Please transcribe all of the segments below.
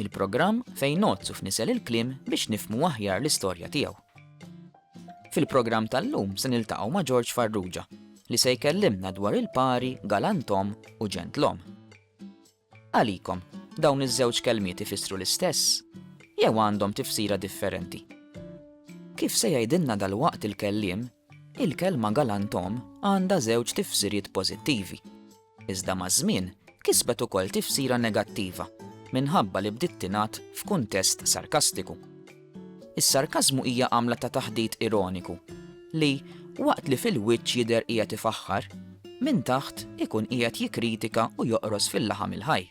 Il-programm fejn ngħoddsu f'nisel il-kliem biex nifhmu aħjar l-istorja tiegħu. Fil-programm tal-lum se niltaqgħu ma' George Farrugia li se jkellimna dwar il-pari galantom u ġentlom. Għalikom, dawn iż-żewġ kelmiet ifissru l-istess jew għandhom tifsira differenti. Kif se jgħidilna dal-waqt il-kellim, il-kelma galantom għandha żewġ tifsiriet pożittivi. Iżda maż-żmien kisbet ukoll tifsira negattiva minħabba li bdiet tingħad f'kuntest sarkastiku. Is-sarkażmu hija għamla ta' taħdit ironiku li, waqt li fil-wiċċ jidher qiegħed ifaħħar, minn taħt ikun qiegħed jikkritika u joqros fil-laħam il-ħaj.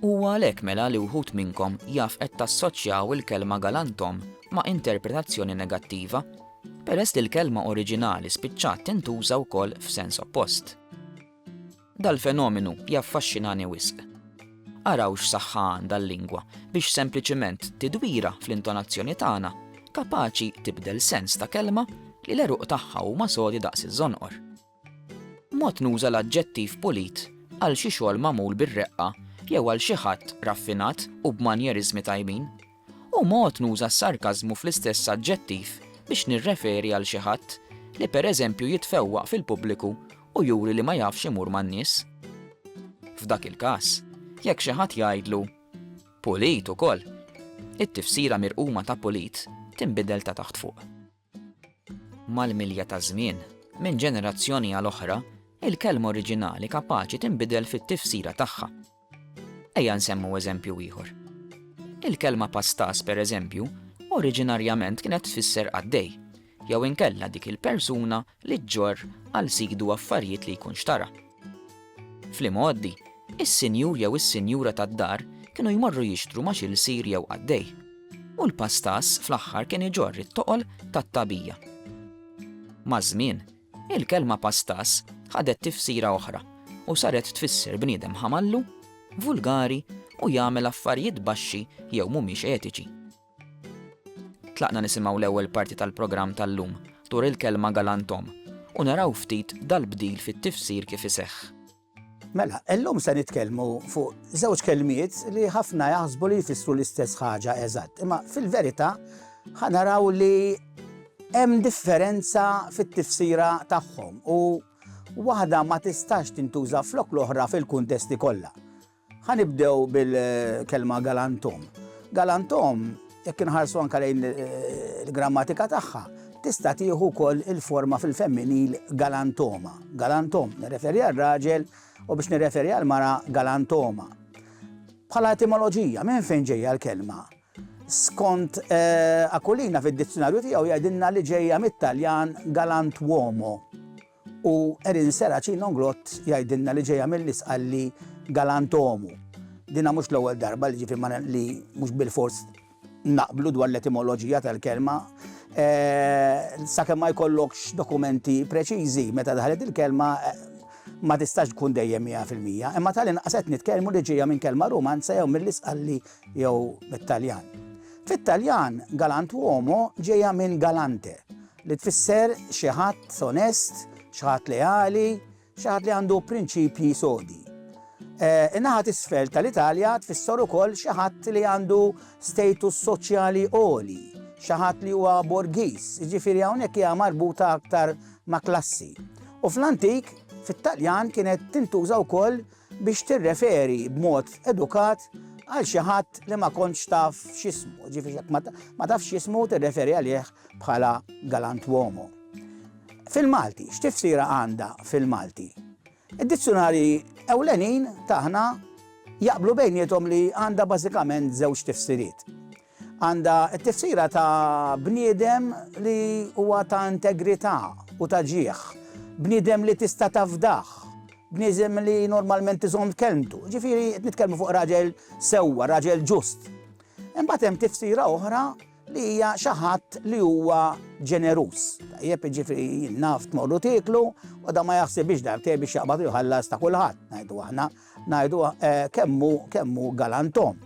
Huwa għalhekk mela li wħud minnkom jaf qed tassoċjaw il-kelma galanthom ma' interpretazzjoni negattiva, peress li l-kelma oriġinali spiċċat tintuża wkoll f'sens oppost. Dal-fenomenu jaffaxxinani wisq. Araw x'saħħa għandha l-lingwa biex sempliċiment tidwira fl-intonazzjoni tagħna kapaċi tibdel sens ta' kelma li l-għeruq tagħha huma sodi daqs iż-żonqor. Mod nuża l-aġġettiv pulit għal xi xogħol magħmul bir-reqqa jew għal xi ħadd raffinat u b'manjeriżmi tajbin, u mod nuża s-sarkażmu fl-istess aġġettiv biex nirreferi għal xi ħadd li pereżempju jitfewwaq fil-pubbliku u juri li ma jafx imur man-nies. F'dak il-każ, jekk xi ħadd jgħidlu, Pulit ukoll! it-tifsira mirquma ta' pulit tinbidel ta' taħt fuq. Mal-milja taż-żmien, minn ġenerazzjoni għal oħra, il-kelma oriġinali kapaċi tinbidel fit-tifsira tagħha. Ejja nsemmu eżempju ieħor. Il-kelma pastas, pereżempju, oriġinarjament kienet tfisser qaddej, jew inkella dik il-persuna li ġġorr għal sidu affarijiet li jkun xtara. Fl-imgħoddi, is-sinjur jew is-sinjura tad-dar kienu jmorru jixtru ma' xi lsir jew qaddej, u l-pastaż fl-aħħar kien iġorr it-toqol tat-tagħbija. Maż-żmien, il-kelma pastaż ħadet tifsira oħra u saret tfisser bniedem ħamallu, vulgari u jagħmel affarijiet baxxi jew mhumiex etiċi. Tlaqna nisimgħu l-ewwel parti tal-programm tal-lum, Tur il-Kelma Galant Omm, u naraw ftit dal-bdil fit-tifsir kif iseħħ. Mela, illum se nitkellmu fuq żewġ kelmiet li ħafna jaħsbu li jfissru l-istess ħaġa eżatt, imma fil-verità ħa naraw li hemm differenza fit-tifsira tagħhom u waħda ma tistax tintuża flok l-oħra fil-kuntesti kollha. Ħa nibdew bil-kelma galantum. Galantum, jekk inħarsu anke lejn il-grammatika tagħha, tista' tieħu wkoll il-forma fil-femminil galantoma. Galantom nirreferi għal raġel u biex nirreferi għal mara galantoma. Bħala etimoloġija, minn fejn ġejja l-kelma? Skont eh, Akulina fid-dizzjonarju tiegħu jgħidilna li ġejja mit-Taljan galantuomo. U Erin Seraci Nonglot jgħidilna li ġejja mill-Isqalli Galantomu. Dinha mhux l-ewwel darba li ġifieri ma li mhux bilfors naqblu dwar l-etimoloġija tal-kelma. Sakemm ma jkollokx dokumenti preċiżi meta daħlet il-kelma ma tistax tkun dejjem mija fil-mija, imma tal-inqas qed nitkellmu li ġejja minn kelma Rumanza jew mill-Isqalli jew mit-Taljan. Fit-Taljan galantuomo ġejja minn galante, Li tfisser xi ħadd onest, xi ħadd leali, xi ħadd li għandu prinċipji sodi. Eh, in-naħa t'isfel tal-Italja tfisser ukoll xi ħadd li għandu status soċjali għoli, xi ħadd li huwa borgiż, jiġifieri hawnhekk hija marbuta aktar ma' klassi. U fl-antik, fit-Taljan kienet tintuża wkoll biex tirreferi b'mod edukat għal xi ħadd li ma kontx taf x'ismu, ġifieri jekk ma tafx x'ismu tirreferi għalih bħala galantuomo. Fil-Malti, x'tifsira għandha fil-Malti? Id-dizzjunarji ewlenin tagħna jaqblu bejniethom li għandha bażikament żewġ tifsiriet. Għandha t-tifsira ta' bniedem li huwa ta' integrità u ta' ġieħ, bniedem li tista' tafdah, bniedem li normalment iżomm kelmtu. Jiġifieri qed nitkellmu fuq raġel sewwa, raġel ġust. Imbagħad hemm tifsira oħra li hija xi ħadd li huwa ġeneruż. Tajjeb, jiġifieri naf tmorru tieklu u dan ma jaħsibx darbtejn biex jaqbad u jħallas ta' kulħadd, ngħidu aħna. Ngħidu, kemm hu, kemm hu galanton.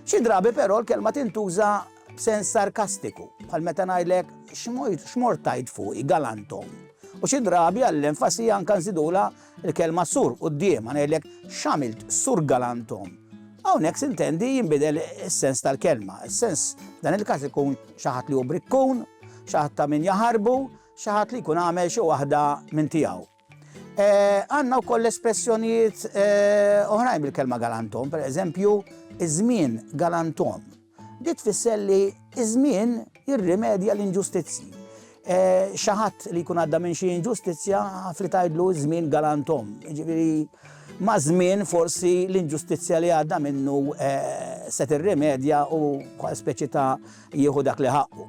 Xi drabi però l-kelma tintuża b'sens sarkastiku, bħal meta ngħidlek, x'mort tgħid fuqi, galanton. U xi drabi għall-enfasi anke nżidulha l-kelma sur quddiemha, ngħidlek, x'għamilt sur galanton. Hawnhekk sintendi jinbidel is-sens tal-kelma. Is-sens f'dan il-każ ikun xi ħadd li hu brikkun, xi ħadd ta' min jaħarbu, xi ħadd li jkun għamel xi waħda minn tiegħu. Eh, għanna u koll espressjonijiet eh, oħrajn bil-kelma galantom, per eżempju, iż-żmien galantom. Di tfisser li iż-żmien jirrimedja l-inġustizzji. Eh, xaħat li jkun għadda minn xi inġustizzja li tajdlu żmien galantom. Ġifieri ma' żmien forsi l-inġustizzja li għadda minnu se tirrimedja u speċi ta' jieħu dak li ħaqqu.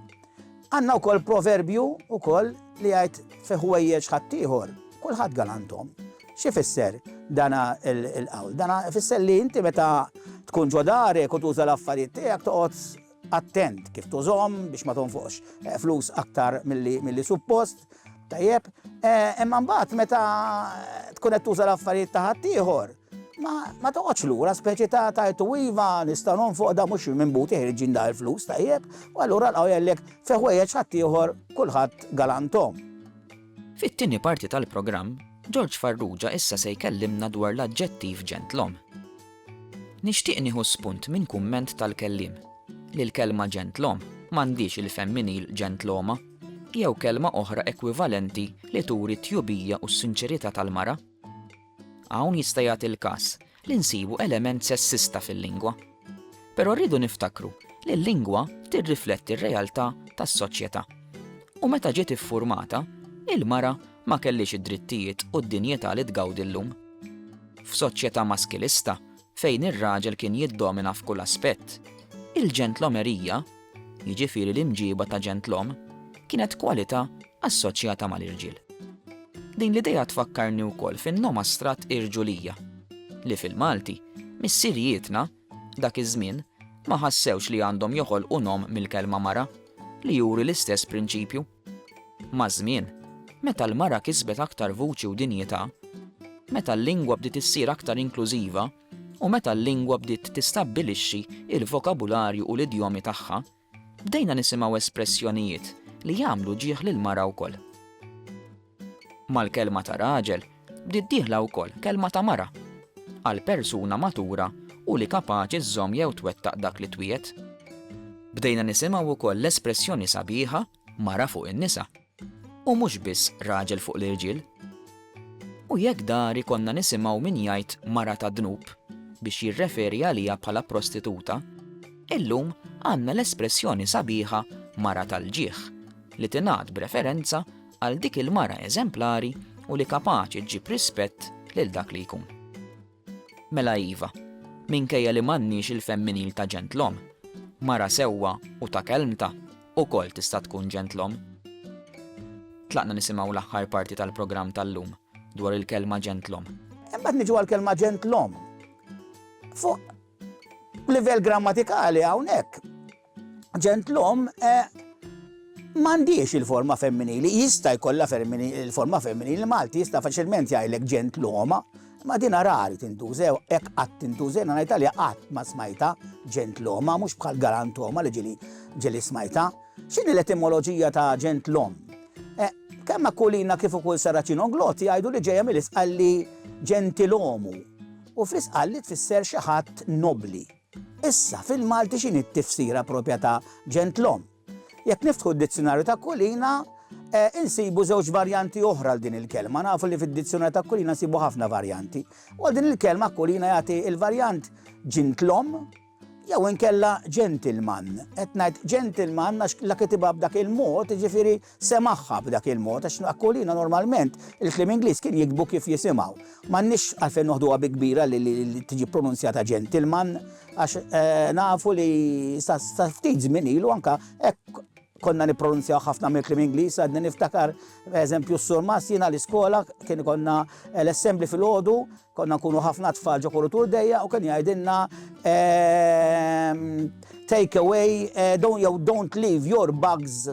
Għandna wkoll proverbju wkoll li jgħid fi ħwejjeġ ħaddieħor kulħadd galanthom. X'ifisser dana l-qawl? Dana ifisser li inti meta tkun ġo darek u tuża l-affarijiet tiegħek toqgħod attent kif tużhom biex ma tonfoqx eh, flus aktar milli suppost. Tajjeb, eh, imma mbagħad meta tkun qed tuża l-affarijiet ta' ħaddieħor, Ma ma toqgħodx lura speċi ta' tajtu iva nista' nonfoq da mhux minn buti ħirġin da l-flus tajjeb, u allura lqgħu jgħidlek fi ħwejjeġ ħaddieħor kulħadd galanthom. Fit-tieni parti tal-programm, Ġorġ Farrugia issa se jkellimna dwar l-aġġettiv ġentlom. Nixtieq nieħu spunt minn kumment tal-kelliem, li l-kelma ġentlom m'għandhiex il-femminil ġentloma, jew kelma oħra ekwivalenti li turi t-tjubija u s-sinċerità tal-mara. Hawn jista' jagħti l-każ li nsibu element sessista fil-lingwa. Però rridu niftakru li l-lingwa tirrifletti r-realtà tas-soċjetà. U meta ġiet iffurmata, il-mara ma kellhiex id-drittijiet u d-dinjità li tgawdi llum. F'soċjetà maskilista, fejn ir-raġel kien jiddomina f'kull aspett, il-ġentlomerija, jiġifieri l-imġiba ta' ġentlom, kienet kwalità assoċjata mal-irġiel. Din l-idea tfakkarni wkoll fin-nomastrat irġulija, li fil-Malti, missirijietna, dak iż-żmien, ma ħassewx li għandhom joħolqu nom mill-kelma mara, li juri l-istess prinċipju. Maż-żmien, meta l-mara kisbet aktar vuċi u dinjità, meta l-lingwa bdiet issir aktar inklużiva u meta l-lingwa bdiet tistabbilixxi l-vokabularju u l-idjomi tagħha, bdejna nisimgħu espressjonijiet li jagħmlu ġieħ lill-mara wkoll. Mal-kelma ta' raġel bdiet dieħla wkoll kelma ta' mara, għal persuna matura u li kapaċi żżomm jew twettaq dak li twiegħed. Bdejna nisimgħu wkoll l-espressjoni sabiħa mara fuq in-nisa, u mhux biss raġel fuq l-irġiel. U jekk dari konna nisimgħu min jgħid mara tad-dnub biex jirreferi għaliha bħala prostituta, illum għandna l-espressjoni sabiħa mara tal-ġieħ li tingħad b'referenza għal dik il-mara eżemplari u li kapaċi ġib rispett lil dak li jkun. Mela iva, minkejja li m'għandniex il-femminil ta' ġentlom, mara sewwa u ta' kelmta u kol tista' tkun ġentlom. Tlaqna nisimaw l-aħħar parti tal-programm tal-lum dwar il-kelma ġentlom. Imbagħad niġu għal-kelma ġentlom. Fuq livell grammatikali hawnhekk ġentlom m'għandhiex il-forma femminili, jista' jkollha il-forma femminili Malti jista' faċilment jgħidlek ġentloma, ma din rari tintużew, hekk qatt tintużew, na ngħidha li qatt ma smajta ġentloma, mhux bħal galantoma li ġili ġili smajta. X'inhi l-etimoloġija ta' ġentlom? Eh, kemm Akulina kif ukoll Saracino Glotti jgħidu li ġejja mill-isqalli ġentilomu u fl-isqalli tfisser xi ħadd nobli. Issa, fil-Malti x'inhi t-tifsira proprja ta' ġentlom? Jekk niftħu d-Dizzjunarju ta' Kulina, insibu żewġ varjanti oħra għal din il-kelma. Nafu li fid-Dizzjunarju ta' Kulina nsibu ħafna varjanti. U għal din il-kelma Kulina jagħti l-varjant ġintlom jew inkella ġentilman. Qed ngħid ġentilman għax la kitibha b'dak il-mod, jiġifieri Semagħha b'dak il-mod għax Aquilina normalment il-kliem Ingliż kien jiktbu kif jisimgħu. M'għandniex għalfejn noħduha bi kbira li tiġi ppronunzjata gentleman għax nafu li sa ftit żmien ilu anke hekk konna nippronunzjaw ħafna mill-kliem Ingliż, għadni niftakar eżempju s-sur Massina l-iskola kien konna eh, l-assembli fil-ħodu, konna nkunu ħafna tfal ġo kurutur dejja u kien jgħidilna ehm, take away, eh, don't, don't leave your bugs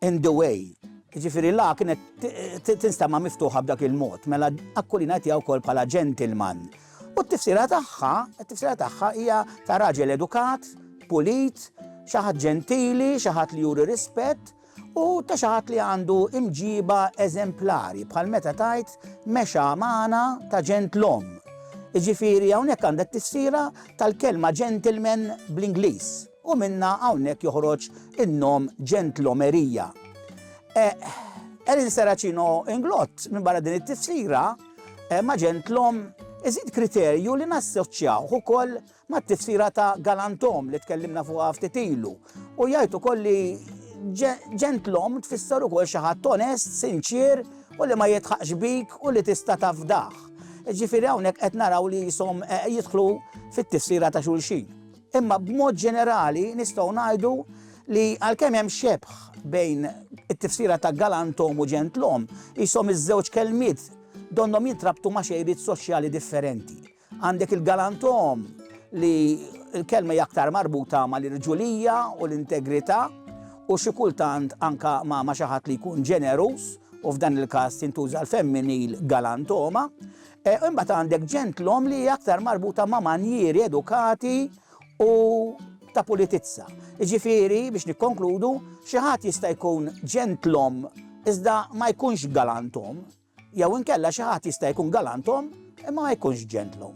In the way. Jiġifieri l-a kienet tinstema' miftuħa b'dak il-mod, mela Aquilina qed tiha wkoll bħala gentleman. U t-tifsira tagħha, it-tifsira tagħha hija ta' raġel edukat, pulit, xi ħadd ġentili, xi ħadd li juri rispett, u ta' xi ħadd li għandu imġiba eżemplari, bħal meta tgħid mexa magħna ta' ġentlom. Jiġifieri hawnhekk għandha t-tifsira tal-kelma gentleman bl-Ingliż. U minnha hawnhekk joħroġ in-nom ġentlomerija. Eħ, qal il-Seracino Inglott, minbarra din it-tifsira, ma' ġentlom iżid kriterju li nassoċjawh ukoll mat-tifsira ta' galantom li tkellimna fuqha ftit ilu u jgħid ukoll li ġentlom tfisser ukoll xi ħadd onest, sinċier u li ma jidħaqx bik u li tista' tafdah. Ġifieri hawnhekk qed naraw li jisom jidħlu fit-tifsira ta' xulxin. Imma b'mod ġenerali nistgħu ngħidu li għalkemm hemm xebħ bejn it-tifsira ta' galantom u ġentlom, ishom iż-żewġ kelmiet donnhom jintrabtu ma' xejriet soċjali differenti. Għandek il-galantom li l-kelma hija aktar marbuta mal-irġulija u l-integrità u xi kultant anke ma' xi ħadd li jkun ġeneruż, u f'dan il-każ tintuża l-femminil galantoma, Imbagħad għandek ġentlom li hija aktar marbuta ma' manjieri edukati u ta' pulitizza. Jiġifieri, biex nikkonkludu, xi ħadd jista' jkun ġentlom iżda ma jkunx galantom, jew inkella xi ħadd jista' jkun galantom imma ma jkunx ġentlom.